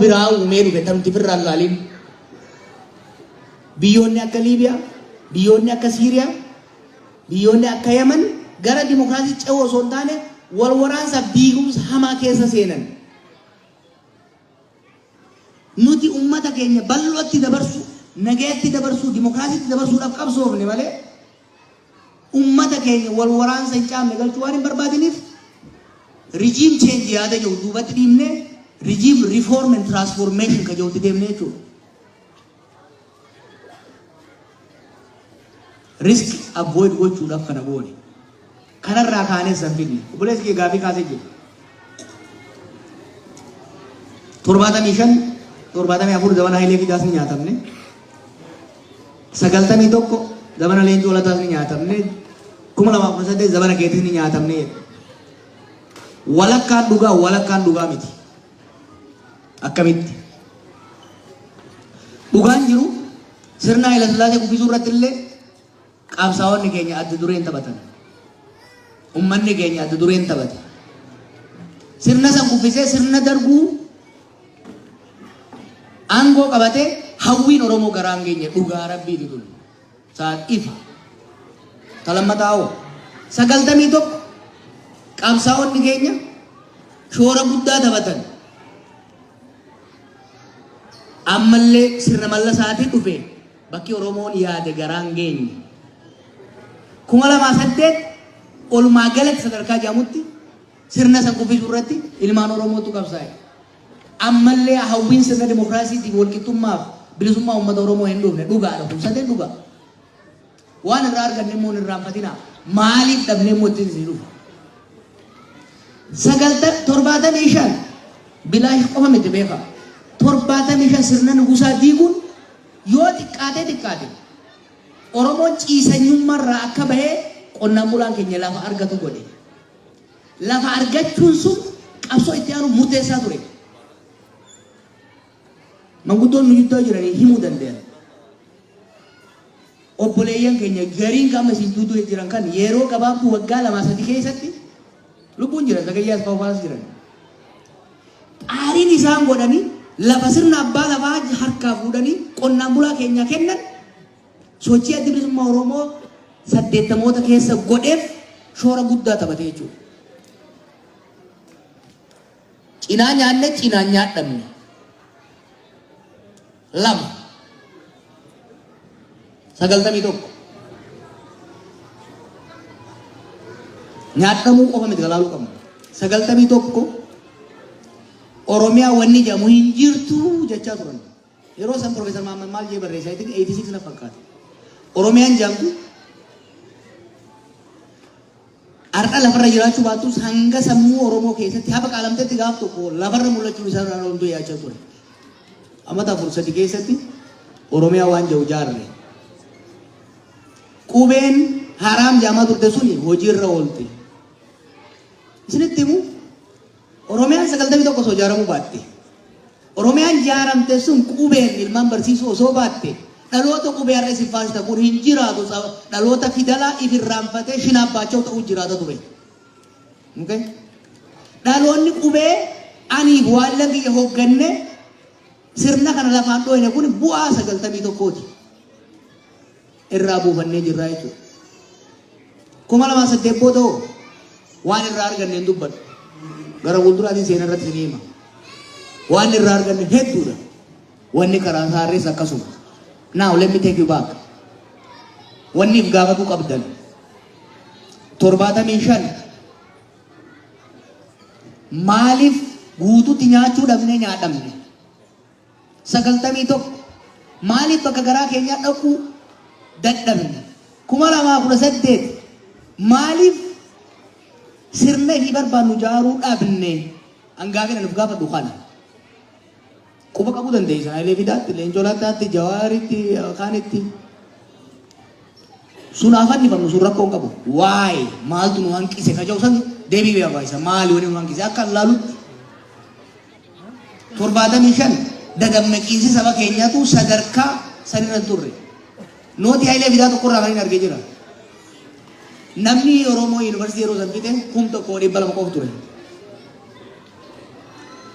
biraa uumee dhufe tamti firraan laaliin biyyoonni akka Liibiyaa, biyyoonni akka Siiriyaa, biyyoonni akka Yaman gara dimokiraasii ce'uu osoo hin taane wal waraansa diigumsa hamaa keessa seenan. Nuti uummata keenya bal'ootti dabarsuu, nagayatti dabarsuu, dimokiraasiitti dabarsuudhaaf qabsoofne malee Ummata keenya wal waraansa hin caamne galchuu waan hin barbaadiniif regime change yaada jiru duubatti dhiibnee regime reform and transformation ka jirutti deemne jechuudha. Risk avoid gochuudhaaf kana goone. Kanarraa kaanee san fidne. Obboleessi kee gaafii kaasee jira. 75 74 zamana Hayilee Fidaas ni nyaatamne. 91 zamana Leencoo Lataas ni nyaatamne. 2018 zamana keetis ni nyaatamne jedhe. Walakkaan dhugaa walakkaan dhugaa miti. Akkamitti? Dhugaan jiru sirna Hayilaslaasee kuffisuu irratti illee Qabsaa'onni keenya adda dureen taphatan. Ummanni keenya adda dureen taphate. Sirna san kuffisee sirna darguu aangoo qabatee hawwiin Oromoo garaan keenya dhugaa rabbiiti tun. Sa'aat ifa. Ta lammataa hoo sagaltamii tokko qabsaa'onni keenya shoora guddaa taphatan. Ammallee sirna mallasaatiin dhufe. Bakki Oromoon yaade garaan geenye. 2008 olumaa galatti sadarkaa jedhamutti sirna san kuffisuu irratti ilmaan Oromootu qabsaa'e. Ammallee hawwiin sirna dimokiraasiitiif walqixxummaaf bilisummaa uummata Oromoo hin dhufne dhugaadha kun sadeen dhugaa. Waan irraa arganne immoo hin irraanfatinaa. Maaliif dhabnee immoo ittiin isin dhufa? Sagalta torbaatamii shan bilaash qofa miti beekaa. Torbaatamii shan sirna nugusaa diiguun Yoo xiqqaatee xiqqaate Oromoon ciisanyumma irraa akka bahee qonnaan bulaan keenya lafa argatu godhe. Lafa argachuun sun qabsoo itti aanuuf murteessaa ture. Manguddoon nu gidduu jiranii himuu danda'an. Obboleeyyan keenya gariin kan amma isin duudue jiran kan yeeroo gabaabduu waggaa lamaa sadi keessatti lubbuun jiran Zagayyee Asfaaw faas jiran. Xaariin isaan godhanii lafa sirna abbaa lafaa harkaa fuudhanii qonnaan bulaa keenyaa kennan sochii addi bilisummaa Oromoo saddeettamoota keessa godheef shoora guddaa taphate jechuudha. Cinaa nyaanne cinaan nyaadhamne. 2 91 nyaadhamuu qofa miti galaaluu qabna 91 Oromiyaa wanni jedhamu hin jirtu jechaa turan yeroo san Profeesar Mahammad maal jee barreessaa itti 86 na fakkaata Oromiyaan jedhamtu Har'a lafarra jiraachuu baattus hanga sammuu Oromoo keessatti hafa qaalamtetti gaaf tokko lafarra mul'achuun isaa irraa hunduu yaachaa ture. Amata afur sadi keessatti Oromiyaa waan jedhu jaarre. Qubeen haraam jaamaa turte suni hojiirra oolte. Isinitti himu Oromiyaan 91 osoo ijaaramuu baatte, Oromiyaan ijaaramte sun qubeen ilmaan barsiisuu osoo baatte, dhaloota qubee har'a isin faarsitan kun hin jiraatu, dhaloota fidalaa if irraanfatee shinaabbaachoo ta'uu jiraata ture. Okay? Dhaloonni qubee aniif waallan kiyya hoogganne sirna kana lafaan dhooyne kun bu'aa 91ti. irraa buufannee jirraa jechuudha. Kuma lamaa saddeet booda hoo waan irraa arganne hin dubbadhu. Gara fuulduraatiin seenaa irratti ni hima. Waan irraa arganne hedduudha. Wanni karaa saarrees akkasuma. Now let me take you back. Wanni if gaafatu qabdan. Torbaatamii shan maaliif guututti nyaachuu dhabnee nyaadhamne? 91, Maaliif bakka garaa keenyaa dhaquu dadhabne? 2018, Maaliif sirna ifii barbaannu jaaruu dhabne? An gaafin an of gaafadhu kana. Quba qabuu dandeessan Hayilee Fidaatti, Leencoo Lattaatti, Jawaaritti, kaanitti. Sun haa fannifamnu sun rakkoo hin qabu. Waay maaltu nu hanqise ka jedhu san deebii barbaachisa. Maali wani nu hanqise akka laalutti 75 dadammaqiinsi saba keenyatu sadarkaa san irra hin turre. Nootii Hayilee Fidaa tokko irraa kan hin arge jira. Namni Oromoo yuunivarsiitii yeroo san fixe kum tokko dhibba lama qofa ture.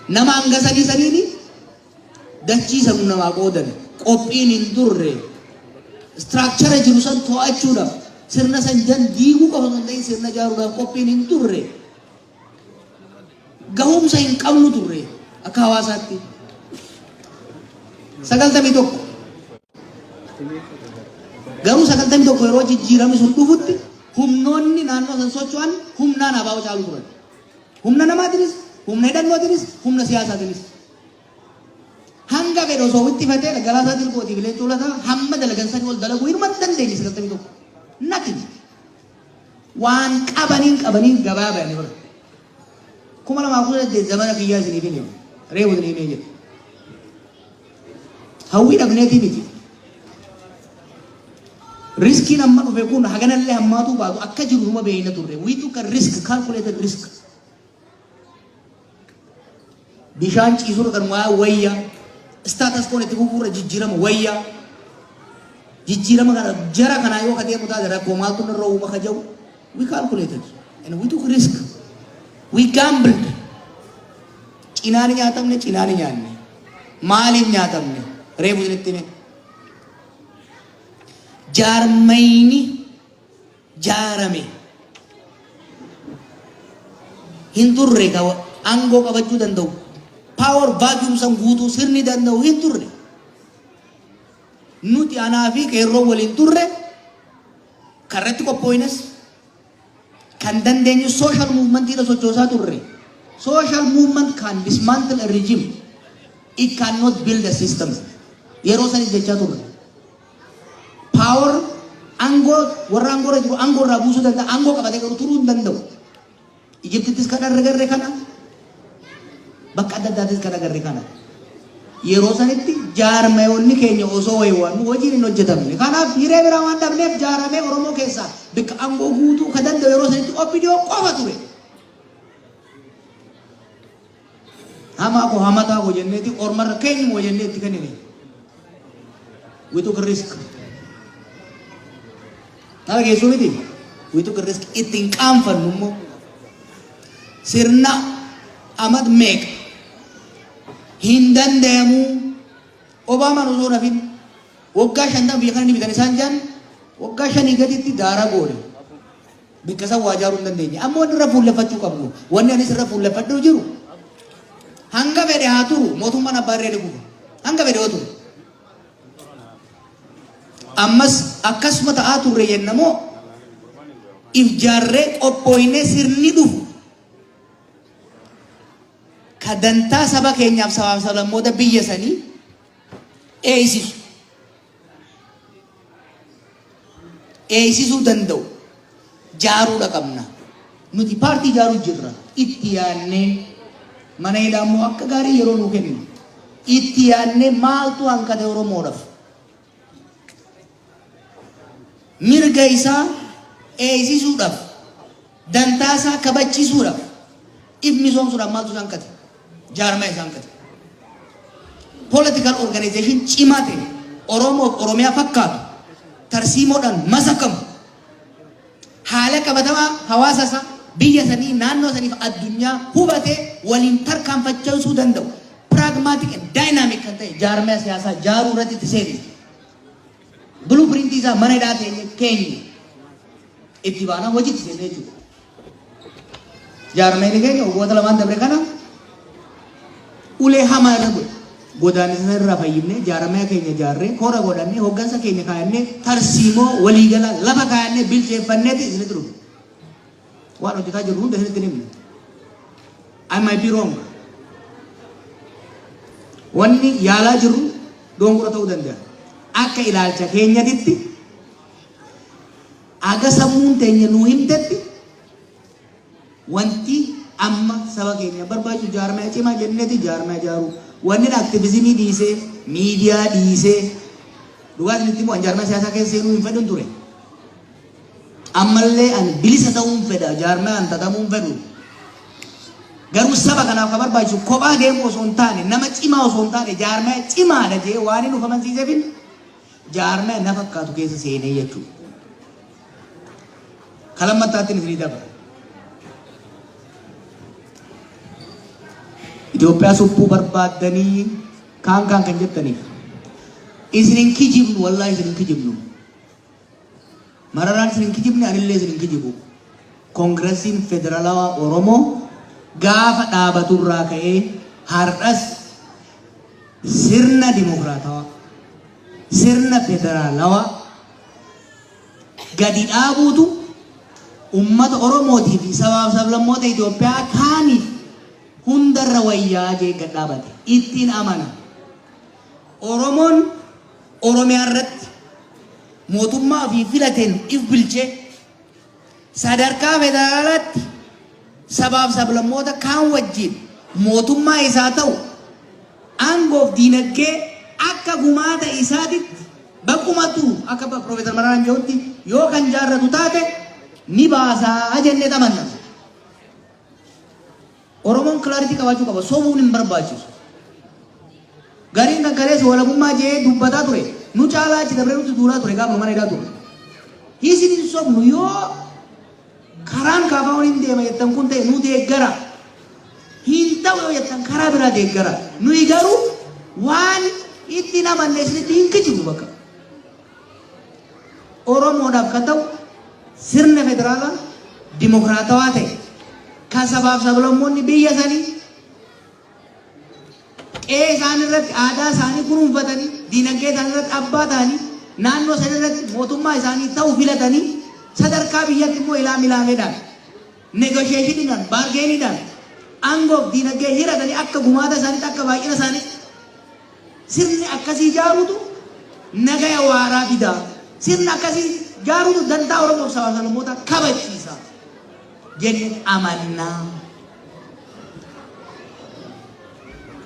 Nama hanga sadii saniini dachii sanu namaa qoodan qophiin hin turre istiraakchara jiru san to'achuudhaaf sirna san jan diiguu qofa osoo hin ta'in sirna jaaruudhaaf qophiin hin turre. Gahumsa hin qabnu turre akka hawaasaatti. Sagaltamii tokko. Garuu sagaltamii tokko yeroo jijjiiramni sun dhufutti humnoonni naannoo san socho'an humnaan abaa'oo caalu turan. Humna namaatiinis, humna hidhannootiinis, humna siyaasaatiinis. Hanga fedhe osoo wixxifatee dhaggalaa isaatiin kootii bileentuu lataa hamma dalagan sanii ol dalaguu hirma dandeenye sagaltamii tokko. Nothing. Waan qabaniin qabaniin gabaa bayani bara. Kuma lamaa kudha saddeet zamana kiyyaa isiniif hin himu. Reefu isinii himee jira. Hawwii dhabneetii miti. Riskiin amma dhufe kun haganallee hammaatuu baatu akka jiru numa beeyna turre. We took a risk, calculated risk. Bishaan ciisuurra kan waa wayya. Staatas koon itti fufuurra jijjiirama wayya. Jijjiirama kana jara kanaa yoo kadeemu taate rakkoo maaltu narra uuma ka jedhu we calculated and we took risk. We gambled. Cinaa ni nyaatamne cinaa ni nyaanne. Maaliin nyaatamne reefu isinitti hime. Jaarmayni jaarame hin turre ka aangoo qabachuu danda'u power vacuum san guutuu sirni danda'u hin turre nuti anaa fi qeerroo waliin turre karratti qophooynes kan dandeenyu social movement irra sochoosaa turre social movement can dismantle a regime it cannot build a system yeroo sanis jechaa turre Power aangoo warra aangoo irra jiru aangoo irraa buusuu danda'a. Aangoo qabate garuu turuu hin danda'u. Ijiptittis kan argarre kana bakka adda addaattis kan agarre kana. Yeroo sanitti jaarmayoonni keenya osoo wayiwaan hojiin hin hojjetamne. Kanaaf hiree biraa waan dhabneef jaaramee Oromoo keessaa bakka aangoo guutuu kan danda'u yeroo sanitti OPDO qofa ture. Hamaa koo hamataa koo jenneeti ormarra keenyuma jennee itti kennine. We took a risk. Nara geessuu miti. We took a risk. Itti hin qaanfannu immoo. Sirna amat meeqa hin danda'amu. Obaamaan osoo nafin waggaa shantan biyya kana ni bitan isaan jaan waggaa shanii gaditti daaraa goone. Bakka san waa ijaaruu hin dandeenye. Amma wanni irra fuulleffachuu qabnu, wanni anis irra fuulleffadhuu jiru, hanga fedhe haa turu mootummaan abbaa irree ni kufa. Hanga fedhe yoo turu. Ammas akkasuma ta'aa turre jenna moo if jaarree qophooynee sirni dhufu ka dantaa saba keenyaaf sabaaf sablammoota biyya sanii eeysisu. eeysisuu danda'u jaaruudha qabna. Nuti paartii jaaruu jirra. Itti yaannee mana hidhaa immoo akka gaarii yeroo nuu kennu itti yaannee maaltu hanqate Oromoodhaaf? Mirga isaa eeysisuudhaaf Dantaa isaa kabachiisuudhaaf if misoomsuudhaaf maaltu isaan kate? Jaarmaya isaan kate. Political organization cimaa ta'e Oromoof Oromiyaa fakkaatu tarsiimoodhaan masakamu haala qabatamaa hawaasa isaa biyya sanii naannoo saniif addunyaa hubatee waliin tarkaanfachiisuu danda'u pragmatic and dynamic kan ta'e jaarmaya siyaasaa jaaruu irratti itti seenise. Buluu piriintii isaa mana hidhaa teenye keenye itti baanaa hojiitti seenne jechuudha. Jaarmeeni keenya waggoota lamaan dabre kana ulee hamaa irra godhe. Godaannisa irraa fayyifnee jaarmee keenya jaarree koora godhannee hooggansa keenya kaayannee tarsiimoo waliigalaa lafa kaayannee bilcheeffanneeti isinitti dhufu. Waan hojjetaa jirru hunda isinitti himne. I might be wrong. Wanni yaalaa jirru dogongora ta'uu danda'a. Akka ilaalcha keenyatitti aga sammuun teenya nuu himtetti wanti amma saba keenya barbaachisu jaarmaya cimaa jenneti jaarmaya jaaruu wanni aktivizimii dhiisee miidiyaa dhiisee dhugaa isinitti immoo an jaarmaya siyaasaa keessa seenuu hin fedhun ture. Ammallee ani bilisa ta'uun fedha, jaarmayaan xaxamuu hin fedhu. Garuu saba kanaaf kan barbaachisu kophaa deemuu osoo hin taane, nama cimaa osoo hin taane, jaarmaya cimaadha jee waan inni of amansiiseefin jaarmaya na fakkaatu keessa seenee jechuudha. Kalammattaattiin isinii dabra. Itoophiyaa suphuu barbaaddanii kaan kaan kan jettaniif isin hin kijibnu wallaahi isin hin kijibnu. Mararaan isin hin kijibne anillee isin hin kijibu. Koongirasiin Federalawaa Oromoo gaafa dhaabaturraa ka'ee har'as sirna dimokiraatawaa, sirna federaalawaa gadi dhaabuutu ummata Oromootii fi sabaaf sablammoota Itoophiyaa kaaniif hundarra wayyaa jee gad dhaabate ittiin amana. Oromoon Oromiyaa irratti mootummaa ofii filateen if bulchee sadarkaa federaalaatti sabaaf sablammoota kaan wajjin mootummaa isaa ta'u aangoof diinagdee akka gumaata isaatitti baqumatu akka Piroofeesar Mararaan jedhutti yoo kan jaarratu taate ni baasaa jennee xamanna. Oromoon clarity qabaachuu qaba. Sobuun hin barbaachisu. Gariin kan kaleessa walabummaa je'ee dubbataa ture. Nu caalaa achi dabree nutti duulaa ture gaafuma mana hidhaa ture. Isin hin sobnu yoo karaan kaafaawwan hin deema jettan kun ta'e nu deeggara. Hin ta'u yoo jettan karaa biraa deeggara. Nuyi garuu waan itti hin amanne isinitti hin kijibnu bakka. Oromoodhaaf kan ta'u sirna federaalaa dimokiraatawaa ta'e kan sabaaf sablammoonni biyya sanii qe'ee isaanii irratti aadaa isaanii kunuunfatanii diinagdee isaanii irratti abbaa ta'anii naannoo sana irratti mootummaa isaanii ta'u filatanii sadarkaa biyyatti immoo ilaa milaameedhaan negosheeshiniidhaan baargeeniidhaan aangoof diinagdee hiratanii akka gumaata isaaniitti akka baay'ina isaaniitti Sirni akkasii jaaruutu nagaya waaraa fida. Sirna akkasii jaaruutu dantaa Oromoof sabaa sablammoota kabachiisa jenne amanna.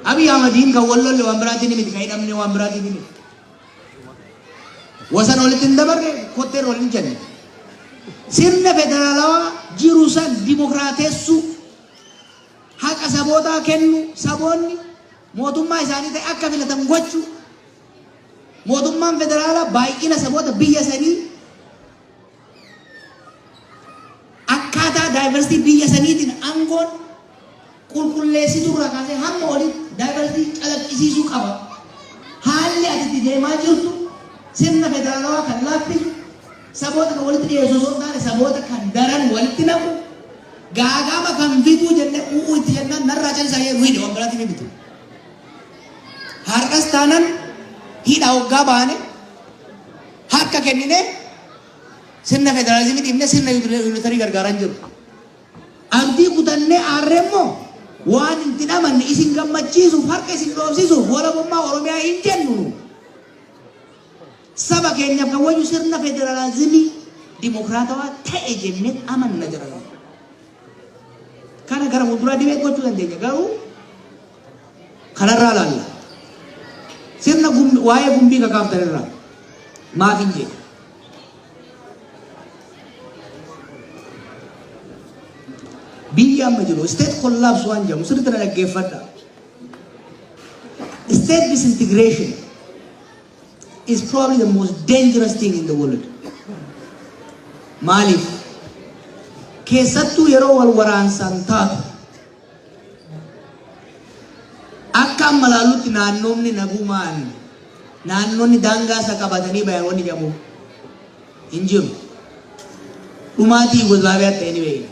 Abiy Ahmadiin kan wal lolle waan biraatiin miti, kan hidhamne waan biraatiin miti. Wasan walitti hin dabarre kotteen wal hin jenne. Sirna federaalawaa jiru san dimokiraatessuu haqa sabootaa kennu saboonni mootummaa isaanii ta'e akka filatan gochuu, mootummaan federaalaa baay'ina saboota biyya sanii akkaataa daayivarsitii biyya saniitiin aangoon qulqulleessituu irraa kaasee hamma olitti daayivarsitii calaqqisiisuu qaba. Haalli ati itti deemaa jirtu sirna federaalawaa kan laaffisu Saboota kan walitti dhiyeessu osoo hin taane saboota kan daran walitti naqu, gaaga'ama kan fiduu jennee u'uu itti jennaan narraa callisaa jedhee nu hidhe waan biraatiif hin bitu. Har'as taanan hidha hoggaa baane harka kennine sirna federaalizimii dhiibne sirna yuunitarii gargaaran jiru. Abdii kutannee aarree immoo waan hin tidhamanne isin gammachiisuuf harka isin dhoofsisuuf walabummaa Oromiyaa hin jennu. Saba keenyaaf kan wayyu sirna federalaazimii dimokiraatawaa ta'e jennee amanna jira. Kana gara fuulduraa dibee gochuu dandeenya garuu kanarraa laalla. Sirna gum- waa'ee gumbii kakaaftan irraa maaf hin jedhu. Biyyi amma jiru isteet kollaabs waan jedhamu sirriitti na dhaggeeffadha. Isteet disintigireeshin is probably the most dangerous thing in the world. Maaliif? Keessattuu yeroo wal waraansaan taatu akka amma laallutti naannoonni nagumaan naannoonni daangaa isa qabatanii bayan wanni jedhamu hin jiru. Dhumaatii Yuugozlaaviyaa ta'e ni beekna.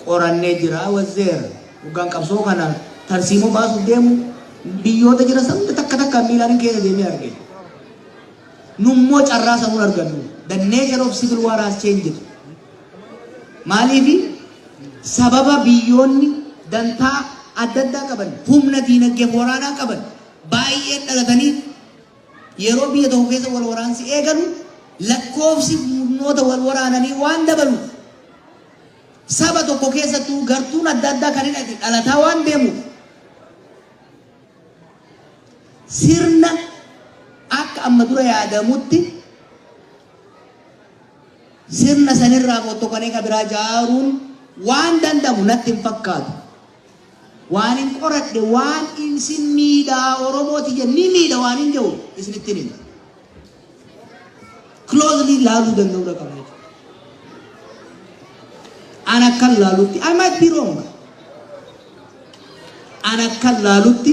Qorannee jira wazzeera. Hoggaan qabsoo kana tarsiimoo baasuuf deemu biyyoota jira sabni takka takka miilaan keessa deemee arge. Nummoo carraa samuun argannu. The nature of civil war has changed. Maaliifi sababa biyyoonni dantaa adda addaa qaban humna diinagdee waraanaa qaban baay'een dhalatanii Yeroo biyya tokko keessa wal waraansi eegalu lakkoofsi murnoota wal waraananii waan dabaluuf saba tokko keessattuu gartuun adda addaa kan hidhate dhalataa waan deemuuf sirna akka amma dura yaadamutti sirna sanirraa fottoqanii ka biraa jaaruun waan danda'amu natti hin fakkaatu. Waanin qoradhe waan insin miidha oromoo tiyya ni miidha waanin jehu isinittin hima. Closely laaluu danda'uu dha qabna jechuudha. An akkan laalutti I might be wrong. An akkan laalutti